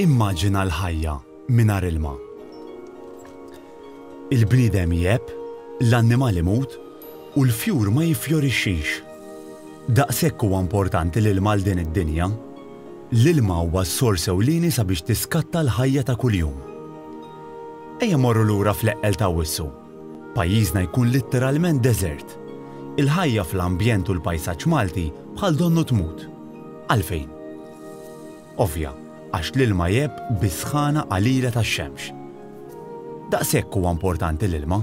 Immaġina l-ħajja mingħajr ilma. Il-bniedem jegħeb, l-annimal imut, u l-fjur ma jiffjorixxix. Daqshekk huwa importanti l-ilma għal din id-dinja. L-ilma huwa s-sors ewlieni sabiex tiskatta l-ħajja ta' kuljum. Ejja mmorru lura fl-eqqel t'Awwissu. Pajjiżna jkun litteralment deżert. Il-ħajja fl-ambjent u l-pajsaġġ Malti bħal donnu tmut. Għalfejn? Ovvja, għax l-ilma jgħebb bis-sħana qalila tax-xemx. Daqshekk huwa importanti l-ilma.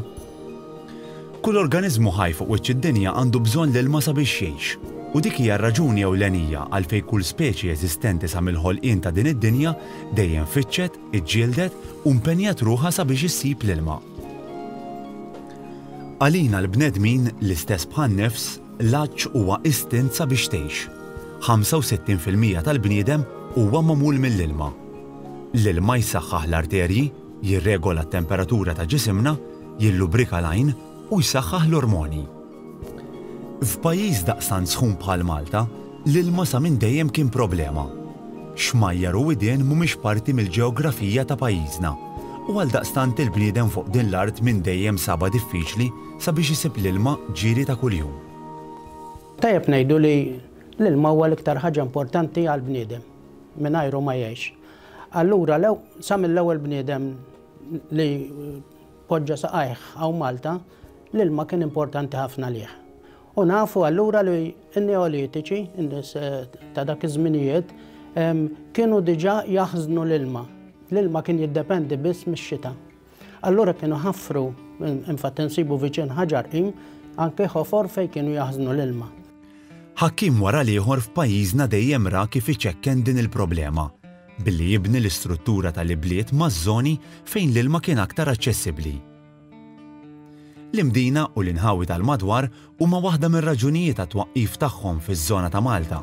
Kull organiżmu ħaj fuq wiċċ id-dinja għandu bżonn l-ilma sabiex jgħix, u dik hija r-raġuni ewlenija għalfejn kull speċi eżistenti sa mill-ħolqien ta' din id-dinja dejjem fittxet, iġġieldet u mpenjat ruħha sabiex issib l-ilma. Għalina l-bnedmin, l-istess bħan-nifs, l-għatx huwa istint sabiex tgħix. 65 fil-mija tal-bniedem huwa magħmul mill-ilma. L-ilma jsaħħaħ l-arterji, jirregola t-temperatura ta' ġisimna, jillubrika l-għajn u jsaħħaħ l-ormoni. F'pajjiż daqstant sħun bħal Malta, l-ilma sa minn dejjem kien problema. Xmajjar u widien mhumiex parti mill-ġeografija ta' pajjiżna u għaldaqstant il-bniedem fuq din l-art minn dejjem sabha diffiċli sabiex isib l-ilma ġieli ta' kuljum. Tajjeb ngħidu li l-ilma huwa l-iktar ħaġa importanti għall-bniedem, mingħajru ma jgħix. Allura sa mill-ewwel bniedem li poġġa saqajh hawn Malta, l-ilma kien importanti ħafna għalih. U nafu allura li n-Neolitiċi, in-nies eh, ta' dak iż-żminijiet, kienu diġà jaħżnu l-ilma. L-ilma kien jiddependi biss mix-xita. Allura kienu ħafru, infatti nsibu viċin ħaġar qim, anke ħofor fejn kienu jaħżnu l-ilma. Ħakkim wara l-ieħor f'pajjiżna dejjem ra kif iċekken din il-problema. billi jibni l-istruttura tal-ibliet maż-żoni fejn l-ilma kien aktar aċċessibbli. L-imdina u l-inħawi tal-madwar huma waħda mir-raġunijiet għat-twaqqif tagħhom fiż-żona ta' Malta.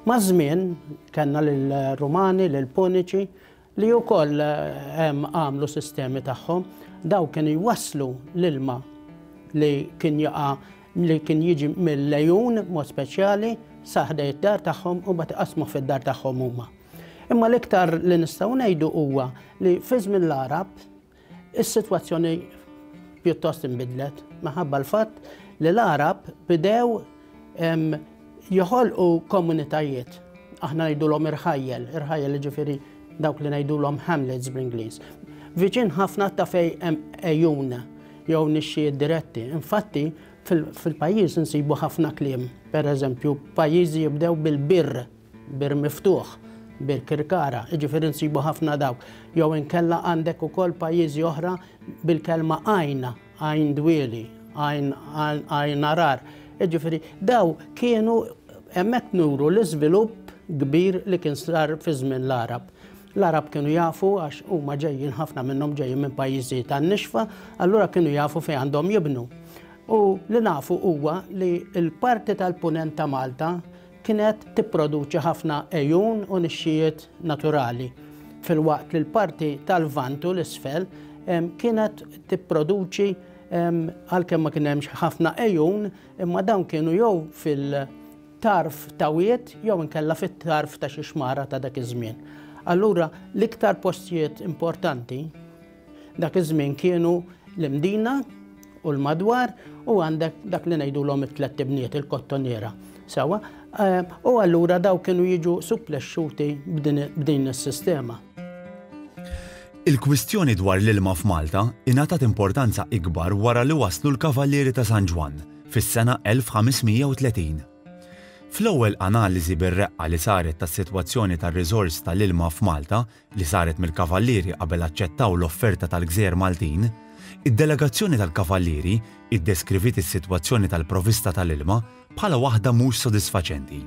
Maż-żmien, kellna lill-Rumani, lill-Puniċi, li wkoll għamlu sistemi tagħhom, dawn kienu jwasslu l-ilma li kien jaqa' li kien jiġi mill-lejun mod speċjali sa ħdejn id-dar tagħhom u mbagħad iqassmuh fid-dar tagħhom huma. Imma l-iktar li nistgħu ngħidu huwa li fi żmien l-Għarab Is-sitwazzjoni pjuttost inbidlet minħabba l-fatt li l-Għarab bidew joħolqu komunitajiet. Aħna ngħidulhom irħajjel, irħajjel jiġifieri dawk li ngħidulhom hamlets bl-Ingliż. Viċin ħafna ta' fej hemm ejjun jew nixxijiet diretti. Infatti, fil-pajjiż insibu ħafna kliem. Per eżempju, pajjiżi jibdew bil-birr. Bir Miftuħ, Birkirkara, jiġifieri nsibu ħafna dawk. Jew inkella għandek ukoll pajjiżi oħra bil-kelma għajn, Għajn Dwieli, Għajn Għajn Għarar. Jiġifieri daw kienu hemmhekk nuru l-iżvilupp kbir li kien sar fi żmien l-Għarab. L-Għarab kienu jafu għax huma ġejjin ħafna minnhom ġejjin minn pajjiżi tan-nixfa, allura kienu jafu fejn għandhom jibnu. U li nafu huwa li l-parti tal-punent ta' Malta kienet tipproduċi ħafna għejun u nixxijiet naturali, filwaqt li l-parti tal-Lvant u l-isfel kienet tipproduċi għalkemm ma kien hemmx ħafna għejun, imma dawn kienu jew fil-tarf ta' wied jew inkella fit-tarf ta' xi xmara ta' dak iż-żmien. Allura l-iktar postijiet importanti Dak iż-żmien kienu l-Imdina u l-madwar u għandek dak li ngħidulhom it-tlett ibniet il-kottoniera. Sewa, eh, u allura daw kienu jiġu supplexxuti b'din is-sistema. Il-kwistjoni dwar l-ilma f'Malta ingħatat importanza ikbar wara li waslu l-Kavallieri ta' San Ġwann fis-sena 1530. Fl-ewwel analiżi bir-reqqa li saret tas-sitwazzjoni tar-riżors tal-ilma f'Malta li saret mill-Kavallieri qabel aċċettaw l-offerta tal-Gżejjer Maltin, id-delegazzjoni tal-Kavallieri iddeskriviet is-sitwazzjoni tal-provista tal-ilma bħala waħda mhux sodisfaċenti.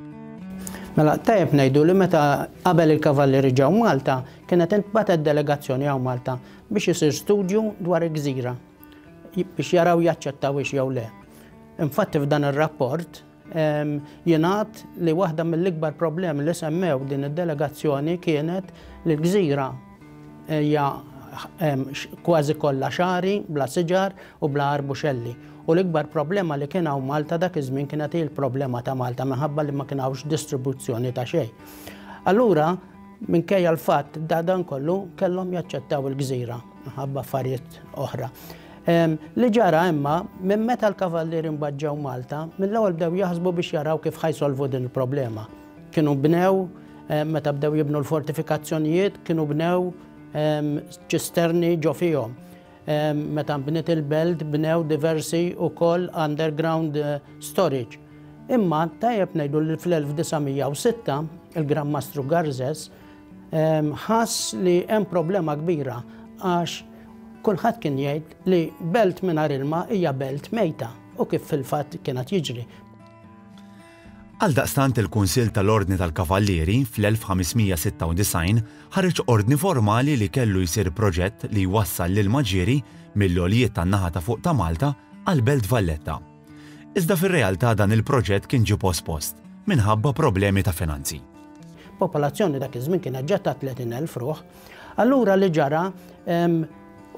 Mela, tajjeb ngħidu li meta qabel il-Kavallieri ġew Malta, kienet intbagħtet delegazzjoni hawn Malta biex isir studju dwar il-gżira biex jaraw jaċċettawhiex jew le. Infatti f'dan ir-rapport Jingħad li waħda mill-ikbar problemi li semmew din id-delegazzjoni kienet li l-gżira hija kważi kollha xari, bla siġar u bla arbuxelli. U l-ikbar problema li kien hawn Malta dak iż-żmien kienet hi l-problema ta' Malta minħabba li ma kien hawnx distribuzzjoni ta' xejn. Allura, minkejja l-fatt da dan kollu kellhom jaċċettaw il-gżira minħabba affarijiet oħra. Li ġara imma, minn meta l-Kavallieri mbaġġew Malta, mill-ewwel bdew jaħsbu biex jaraw kif ħa jsolvu din il-problema. Kienu bnew, meta bdew jibnu l-fortifikazzjonijiet, kienu bnew ċisterni ġo fihom. Meta nbniet il-belt bnew diversi wkoll underground eh, storage. Imma tajjeb ngħidu li fl-1906 il-Gran Mastru Garzes ħass li hemm problema kbira għax kulħadd kien jgħid li belt mingħajr ilma hija belt mejta u kif fil-fatt kienet jiġri. Għal daqstant il-Kunsill tal-Ordni tal-Kavallieri fl-1596 ħareġ ordni formali li kellu jsir proġett li jwassal l-ilma ġieri mill-għoljiet tan-naħa ta' fuq ta' Malta għal Belt Valletta. Iżda fir-realtà dan il-proġett kien ġie pospost minħabba problemi ta' finanzi. Popolazzjoni dak iż-żmien kienet ġa ta' 30,000 ruħ. Allura li ġara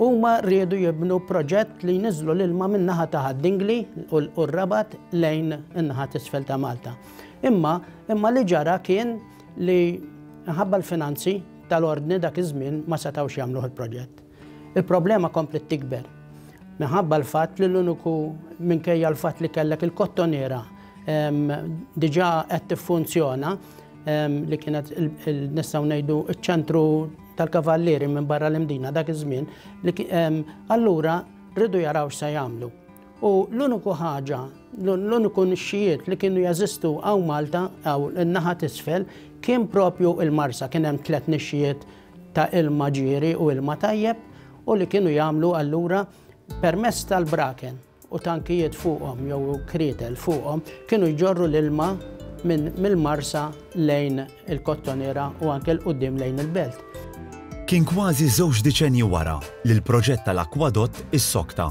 huma riedu jibnu proġett li jniżżlu l-ilma min-naħa ta' ħad-Dingli u r-Rabat lejn in-naħa t'isfel ta' Malta. Imma imma li ġara kien li minħabba l-finanzi tal-Ordni dak iż-żmien ma setgħux jagħmluh il-proġett. Il-problema kompliet tikber minħabba l-fatt li l-uniku minkejja l-fatt li kellek il-kottoniera diġà qed tiffunzjona li kienet nistgħu ngħidu ċ-ċentru tal-kavallieri minn barra l-imdina dak iż-żmien, allura rridu jaraw x'se jagħmlu. U l-uniku ħaġa, l-uniku nixxijiet li kienu jeżistu hawn Malta, hawn in-naħa t'isfel, kien propju il-Marsa, kien hemm tliet nixxijiet ta' ilma ġieri u ilma tajjeb u li kienu jagħmlu allura permezz tal-braken u tankijiet fuqhom jew krietel fuqhom kienu jġorru l-ilma minn mill-marsa lejn il-kottoniera u anke 'l quddiem lejn il-belt. Kien kważi żewġ diċennji wara li l-proġett tal-akwadott issokta.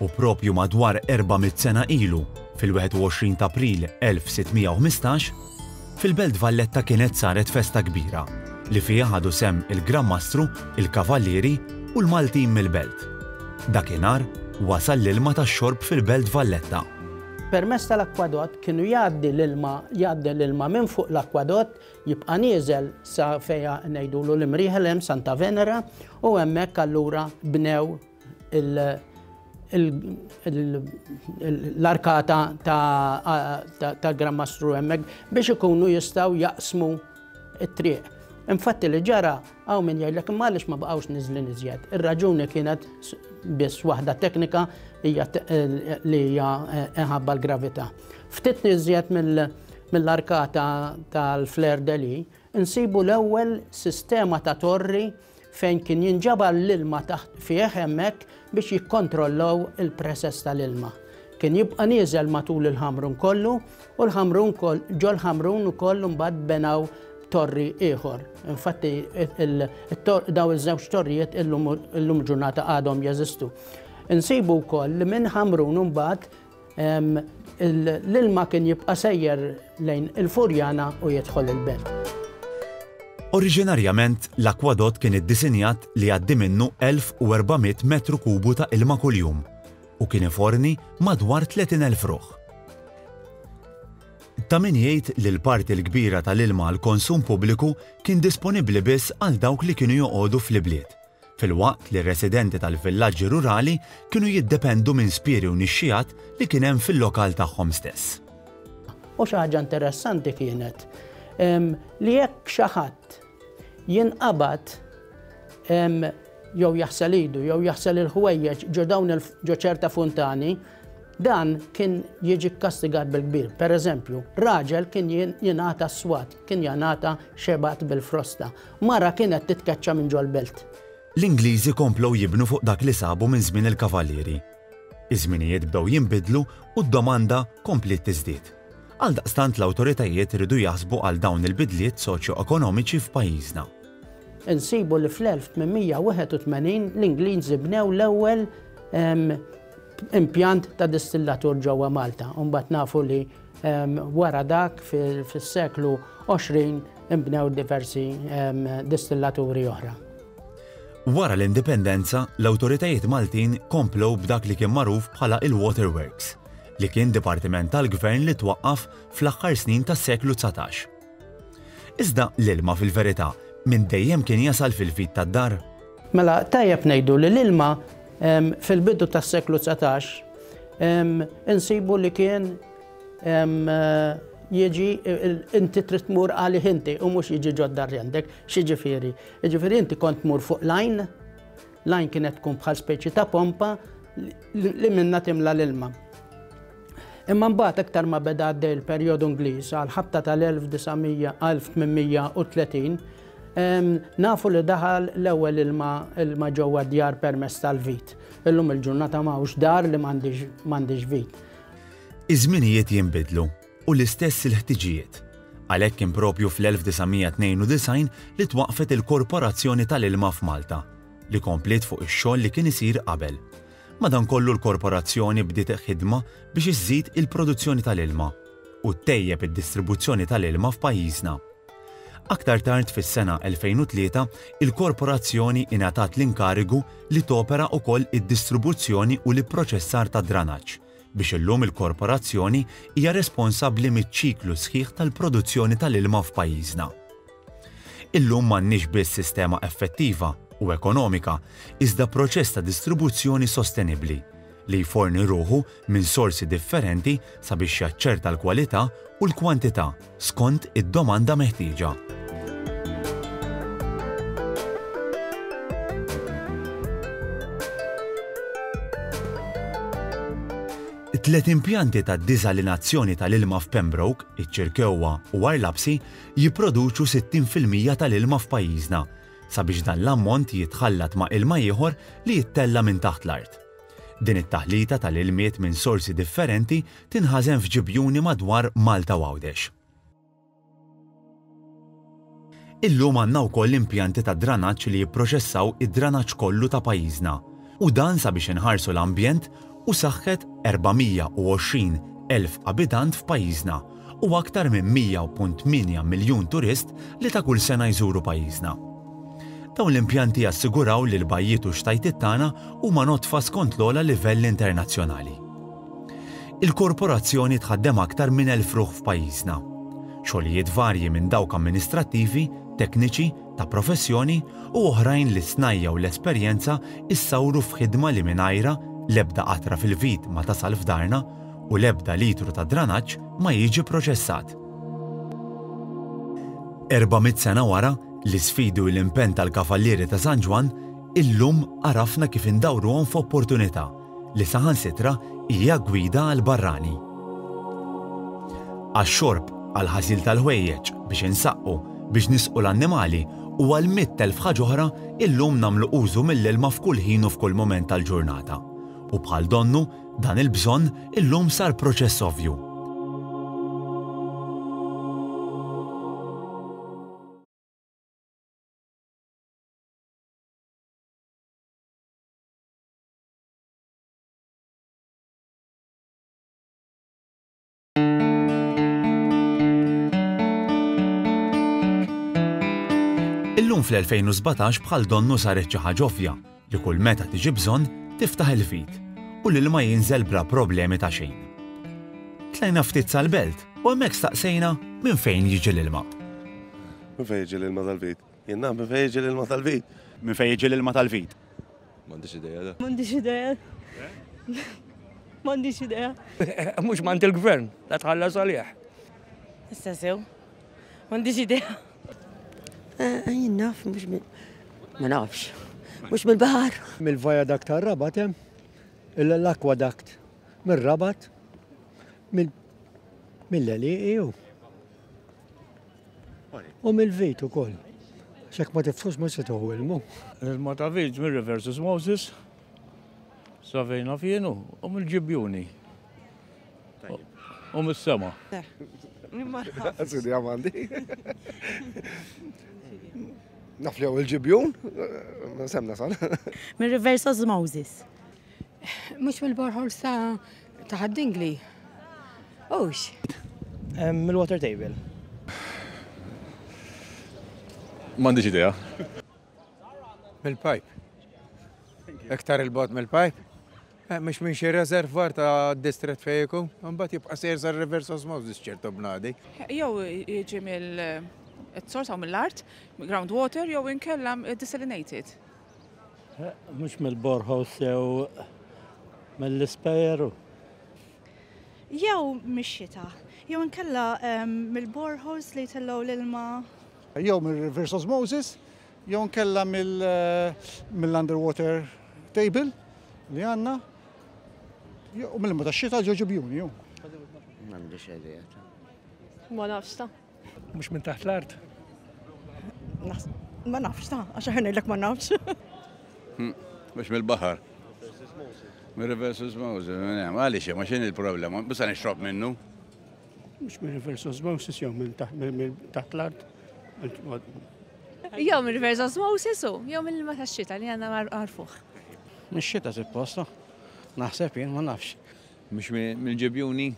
U propju madwar erba' mitt sena ilu, fil-21 t'April 1615, Fil-Belt Valletta kienet saret festa kbira li fiha ħadu sehem il-Gran Mastru, il-Kavallieri u l-Maltin mill-Belt. Dakinhar wasal l-ilma tax-xorb fil-Belt Valletta. Permezz tal-akkwadott kienu jgħaddi l-ilma jgħaddi l-ilma minn fuq l-akkwadott jibqa' nieżel sa fejn ngħidulu l-imrieħel hemm Santa Venera u hemmhekk allura bnew l-arkata ta' Gran Mastru hemmhekk biex ikunu jistgħu jaqsmu t-triq. Infatti li ġara hawn min jgħidlek imma għaliex ma baqgħux niżlin iżjed. Ir-raġuni kienet biss waħda teknika hija li hija inħabba l-gravità. Ftit niżjed mill-arkata tal-Flair Deli, insibu l-ewwel sistema ta' torri fejn kien jinġabar l-ilma taħt fih hemmhekk biex jikkontrollaw il-presess tal-ilma. Kien jibqa' nieżel matul il-Ħamrun kollu u l-Ħamrun ġol-Ħamrun ukoll imbagħad benaw torri ieħor. Infatti daw iż-żewġ torrijiet illum ġurnata għadhom jeżistu. Insibu wkoll li minn Ħamrun imbagħad L-ilma kien jibqa' sejjer lejn il-Furjana u jidħol il-Belt. Oriġinarjament, l-akwadott kien iddisinjat li jgħaddi minnu 1,400 metru kubu ta' ilma kuljum u kien iforni madwar 30,000 ruħ. Ta' min jgħid li l-parti l-kbira tal-ilma għall-konsum pubbliku kien disponibbli biss għal dawk li kienu joqogħdu fl-ibliet, filwaqt li r-residenti tal-villaġġi rurali kienu jiddependu minn spieri u nixxiegħat li kien hemm fil-lokal tagħhom stess. U xi ħaġa interessanti kienet li jekk xi ħadd jinqabad jew jaħsel idu jew jaħsel il-ħwejjeġ ġo dawn ġo ċerta funtani, dan kien jiġi kkastigat bil-kbir. Per eżempju, raġel kien jingħata swat, kien jingħata xebat bil-frosta. Mara kienet titkeċċa minn ġol-belt. L-Ingliżi komplew jibnu fuq dak li sabu minn żmien il-Kavalieri. Iż-żminijiet bdew jinbidlu u d-domanda kompliet tiżdied. Għaldaqstant l-awtoritajiet riedu jaħsbu għal dawn il-bidliet soċjoekonomiċi f'pajjiżna. Insibu li fl-1881 l-Ingliżi bnew l-ewwel impjant ta' distillatur ġewwa Malta. Imbagħad nafu li Wara dak fis-seklu 20 inbnew diversi distillaturi oħra. Wara l-Indipendenza, l-awtoritajiet Maltin komplew b'dak li kien magħruf bħala il-Water Works, li kien dipartiment tal-Gvern li twaqqaf fl-aħħar snin tas-seklu dsatax. Iżda l-ilma fil-verità minn dejjem kien jasal fil-vit tad-dar? Mela tajjeb ngħidu li l-ilma fil-bidu tas-seklu dsatax insibu li kien jiġi inti trid tmur għalih inti u mhux jiġi ġodda rjendek. X'jiġifieri? Jiġifieri inti kont tmur fuq l-għajn L-għajn kienet tkun bħal speċi ta' pompa li minna timla l-ilma. Imma mbagħad iktar ma beda għaddej il-perjodu Ingliż għal ħabta tal-1830 nafu li daħal l-ewwel ilma ilma ġewwa djar permess tal-vit. Illum il-ġurnata ma dar li m'għandix vit. Iż-żminijiet jinbidlu u l-istess il-ħtiġijiet. Għalhekk kien proprju fl-1992 li twaqqfet il-Korporazzjoni tal-Ilma f'Malta, li kompliet fuq ix-xogħol li kien isir qabel. Madankollu l-Korporazzjoni bdiet ħidma biex iżżid il-produzzjoni tal-ilma u ttejjeb id-distribuzzjoni tal-ilma f'pajjiżna. Aktar tard fis-sena 2003 il-Korporazzjoni ingħatat l-inkarigu li topera wkoll id-distribuzzjoni u l-ipproċessar tad-dranaġġ, biex illum il-korporazzjoni hija responsabbli miċ-ċiklu sħiħ tal-produzzjoni tal-ilma f'pajjiżna. Illum m'għandniex biss sistema effettiva u ekonomika iżda proċess ta' distribuzzjoni sostenibbli li jforni ruħu minn sorsi differenti sabiex jaċċerta l-kwalità u l-kwantità skont id-domanda meħtieġa. Tliet impjanti ta' diżalinazzjoni tal-ilma f'Pembroke, iċ-Ċirkewwa u Għarlabsi jipproduċu 60 fil-mija tal-ilma f'pajjiżna, sabiex dan l-ammont jitħallat ma' ilma ieħor li jittella' minn taħt l-art. Din it-taħlita tal-ilmiet minn sorsi differenti tinħażen f'ġibjuni madwar Malta u Għawdex. Illum għandna wkoll impjanti ta' dranaġġ li jipproċessaw id-dranaġġ kollu ta' pajjiżna u dan sabiex inħarsu l-ambjent u saħħet 420 elf abitant f'pajjiżna u aktar minn 100.8 miljun turist li ta' kull sena jżuru pajjiżna. Dawn l-impjanti jassiguraw li l-bajjiet u x-xtajtiet tagħna huma nodfa skont l-ogħla livell internazzjonali. Il-Korporazzjoni tħaddem aktar minn elf ruħ f'pajjiżna. Xogħlijiet varji minn dawk amministrattivi, tekniċi, ta' professjoni u oħrajn li s-snajja' u l-esperjenza issawru f'ħidma li mingħajrha l-ebda qatra fil-vit ma tasal f'darna u l-ebda litru ta' dranaġġ ma jiġi proċessat. Erba' mitt sena wara, l-isfidi u l-impenn tal-Kavallieri ta' San Ġwann, illum għarafna kif indawruhom f'opportunità li saħansitra hija gwida għall-barrani. Għax-xorb, għall-ħasil tal-ħwejjeġ, biex insaqqu, biex nisqu l-annimali u għal mitt elf ħaġa oħra, illum nagħmlu użu mill-ilma f'kull ħin u f'kull mument tal-ġurnata u bħal donnu, Dan il-bżonn illum sar proċess ovvju. Illum fl-2017 bħal donnu saret xi ħaġa ovvja li kull meta tiġi bżonn tiftaħ il-fit u lil ma jinżel bla problemi ta' xejn. Tlajna ftit sal-belt u hemmhekk staqsejna minn fejn jiġi l-ilma. Minn fejn jiġi l-ilma tal-vit? Jien naf minn fejn jiġi l-ilma tal-vit. Minn fejn jiġi l-ilma tal-vit? M'għandix idea da. M'għandix idea. M'għandix idea. Mhux m'għand il-gvern, la tħallas għalih. Issa sew. M'għandix idea. Eh, jien naf mhux ma nafx. Mhux mill-baħar. Mill-viaduct tar-rabat hemm l-aqueduct mir-rabat mill-leliqi U mill-vit ukoll. X'hekk ma tifħux mhux se tieħu ilmu. L-ilma ta' vit mir-River Susmosis sa fejn naf jien hu mill-ġibjuni. U mis-sema. Sidi għamandi. Naf li hawn il-ġibjun, semna sal. Mir-River Susmosis. Mhux mill-borehole sa taħt dingli. Ux. Mill-water table. M'għandix idea. Mill-pipe. Iktar il-bot mill-pipe. Eh, mux minn xi rezervar ta' distret fejku, mbagħad jibqa' sejr sa' reverse osmosis ċertu bnadi. Jew jiġi mill-sors eh, għaw mill-art, groundwater, jew inkella desalinated. Mhux mill-borħos jew mill-ispejeru. Jew mix-xita, jew inkella mill-borħos li jtellgħu l-ilma. Jew mir-reverse osmosis, jew inkella mill-underwater table li għandna, jew mill-ilma tax-xita ġo ġibjuni. M'għandix idea ta'. Ma nafx ta'. Mhux minn taħt l-art? Ma nafx ta' għax ħanejlek ma nafx. Hmm, mhux mill-baħar. Mir-reverse osmosis, eh, għaliex ma x'in il-problema, bisa nixrob minnu. Mhux mir-reverse osmosis jew minn taħt l-art. Jew minn reverse osmosis u jew minn ma tax-xita li għandna għarfuh. Mix-xita supposta. Naħseb jien ma nafx. Mhux mill-ġibjuni?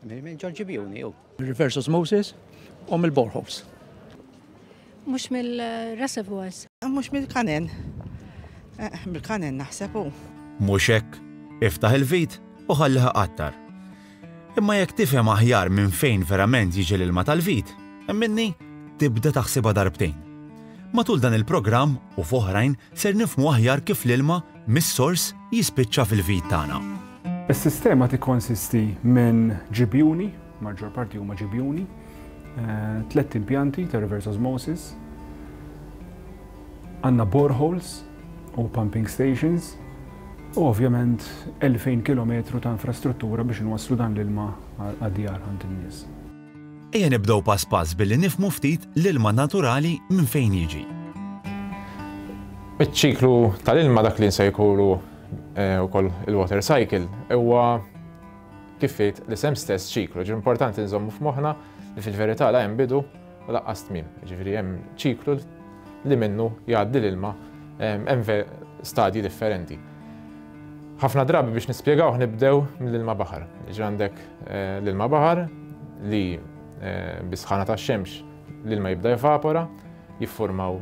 Minn John Gibiuni u. Reverse osmosis u mill-boreholes. Mhux mill-reservoirs. Mhux mill-kanen. Eh, mill-kanen naħseb u. Mhux hekk, iftaħ il-vit u ħalliha qattar. Imma jekk tifhem aħjar minn fejn verament jiġi l-ilma tal-vit, minni tibda taħsibha darbtejn. Matul dan il-programm u f'oħrajn ser nifmu aħjar kif l-ilma mis-sors jispiċċa fil-vid tagħna. Is-sistema tikkonsisti minn ġibjuni, maġġor parti huma ġibjuni, eh, tliet impjanti ta' reverse osmosis, għandna boreholes u pumping stations, u ovvjament 2000 km ta' infrastruttura biex nwasslu dan l-ilma għad-djar għand in-nies. Ejja nibdew pass pass billi nifhmu ftit l-ilma naturali minn fejn jiġi. Iċ-ċiklu tal-ilma dak li nsejħulu wkoll il-water cycle huwa kif jgħid l-isem stess ċiklu. Ġifieri importanti nżommu f'moħħna li fil-verità la hemm bidu u laqqas tmiem. Ġifieri hemm ċiklu li minnu jgħaddi l-ilma hemm stadji differenti. Ħafna drabi biex nispjegawh nibdew mill-ilma baħar. Jiġri għandek L-ilma baħar li bis-sħana tax-xemx l-ilma jibda jevapora, jiffurmaw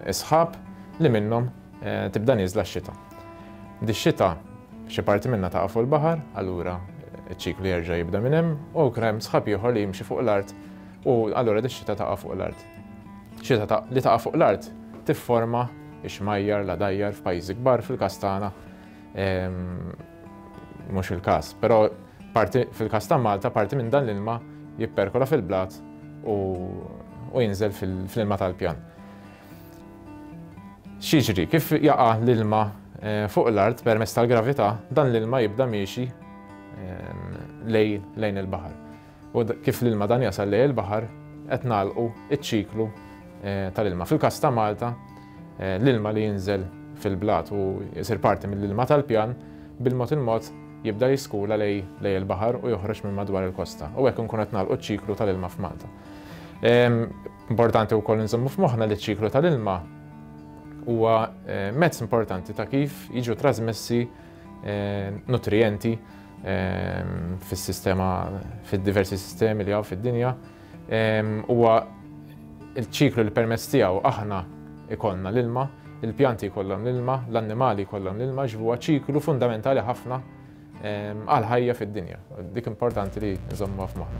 is-sħab li minnhom tibda nieżla x-xita. Dix-xita xi parti minnha taqa' fuq il-baħar, allura ċ-ċiklu jerġa' jibda minn hemm u jkun hemm sħab ieħor li jimxi fuq l-art u allura dix-xita taqa' fuq l-art. Xita li taqa' fuq l-art tifforma x-xmajjar, l-għadajjar f'pajjiżi kbar, fil-każ tagħna Mhux il-każ, però fil-każ ta' Malta parti minn dan l-ilma jipperkola fil-blat u jinżel fl-ilma tal-pjan. Xiġri, kif jaqa' l-ilma eh, fuq l-art permezz tal-gravità, dan l-ilma jibda miexi eh, lejn il-baħar. u kif l-ilma dan jasal lejn il-baħar qed nagħlqu ċ-ċiklu tal-ilma. Fil-każ ta' Malta, l-ilma li jinżel fil-blat u jsir parti mill-ilma tal-pjan bil-mod il-mod jibda jiskula lejn il-baħar u joħroġ minn madwar il-kosta. U hekk nkun qed nagħlqu ċ-ċiklu tal-ilma f'Malta. Importanti wkoll inżommu f'moħħna li ċ-ċiklu tal-ilma huwa mezz importanti ta' kif jiġu trasmessi nutrijenti fis-sistema fid-diversi sistemi li hawn fid-dinja huwa il-ċiklu li permezz tiegħu aħna ikollna l-ilma, il-pjanti jkollhom l-ilma, l-annimali jkollhom l-ilma, ġvuha ċiklu fundamentali ħafna għal ħajja fid-dinja. Dik importanti li nżommuha f'moħħna.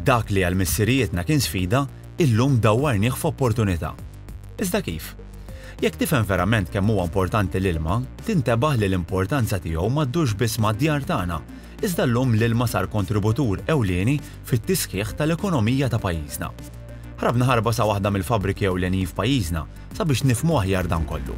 Dak li għal missirijietna kien sfida, illum dawwarnieh f'opportunità. Iżda kif? Jekk tifhem verament kemm huwa importanti l-ilma, tintebaħ li l-importanza tiegħu ma ddurx biss mad-djar tagħna, iżda llum l-ilma sar kontributur ewlieni fit-tisħiħ tal-ekonomija ta' pajjiżna. Ħrabna ħarba sa waħda mill-fabbriki ewlenin f'pajjiżna sabiex nifhmu aħjar dan kollu.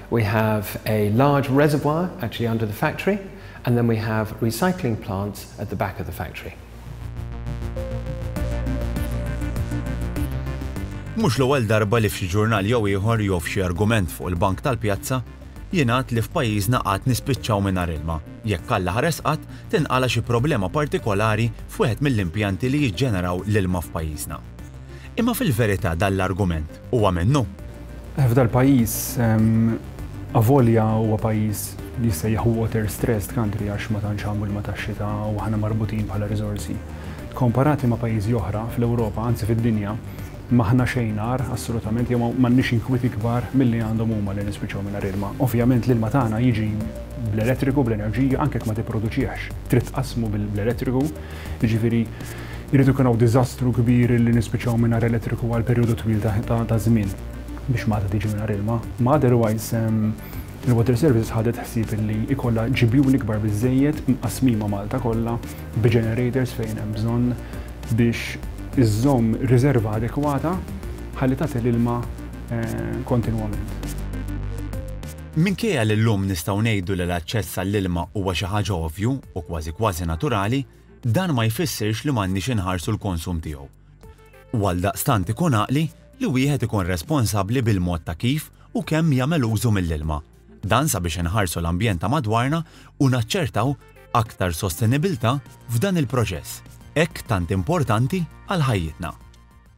We have a large reservoir actually under the factory and then we have recycling plants at the back of the factory. Mhux l-ewwel darba li f'xi ġurnal jew ieħor jew f'xi argument fuq il-bank tal-pjazza jingħad li f'pajjiżna qatt nispiċċaw mingħajr ilma, jekk Alla ħares qatt tinqala' xi problema partikolari f'wieħed mill-impjanti li jiġġeneraw l-ilma f'pajjiżna. Imma fil-verità dan l-argument huwa minnu? F'dal-pajjiż, avolja huwa pajjiż li jissejjaħ water stressed country għax ma tantx hawn ilma tax-xita u aħna marbutin bħala riżorsi, komparati ma' pajjiżi oħra fl-Ewropa, anzi fid-dinja, m'aħna xejn agħar, assolutament, jew m'għandniex inkwiet ikbar milli għandhom huma li nispiċċaw mingħajr ilma. Ovvjament l-ilma tagħna jiġi bl-elettriku, bl-enerġija, anke jekk ma tipproduċihx, trid tqassmu bl-elettriku, jiġifieri, Irid ikun hawn diżastru kbir li nispiċċaw mingħajr elettriku għal perjodu twil ta' żmien biex Malta tiġi mingħajr ilma. Ma otherwise il-Water Services ħadet ħsieb li jkollha ġibjuni kbar biżżejjed mqassmin ma' Malta kollha bi ġenerators fejn hemm bżonn biex iżżomm riżerva adekwata ħalli tagħti l-ilma kontinwament. Minkejja li llum nistgħu ngħidu li l-aċċess għall-ilma huwa xi ħaġa ovvju u kważi kważi naturali, dan ma jfissirx li m'għandniex inħarsu l-konsum tiegħu. U għaldaqstant ikun għaqli li wieħed ikun responsabbli bil-mod ta' kif u kemm jagħmel użu mill-ilma. Dan sabiex inħarsu l-ambjent ta' madwarna u naċċertaw aktar sostenibilità f'dan il-proċess hekk tant importanti għal ħajjitna.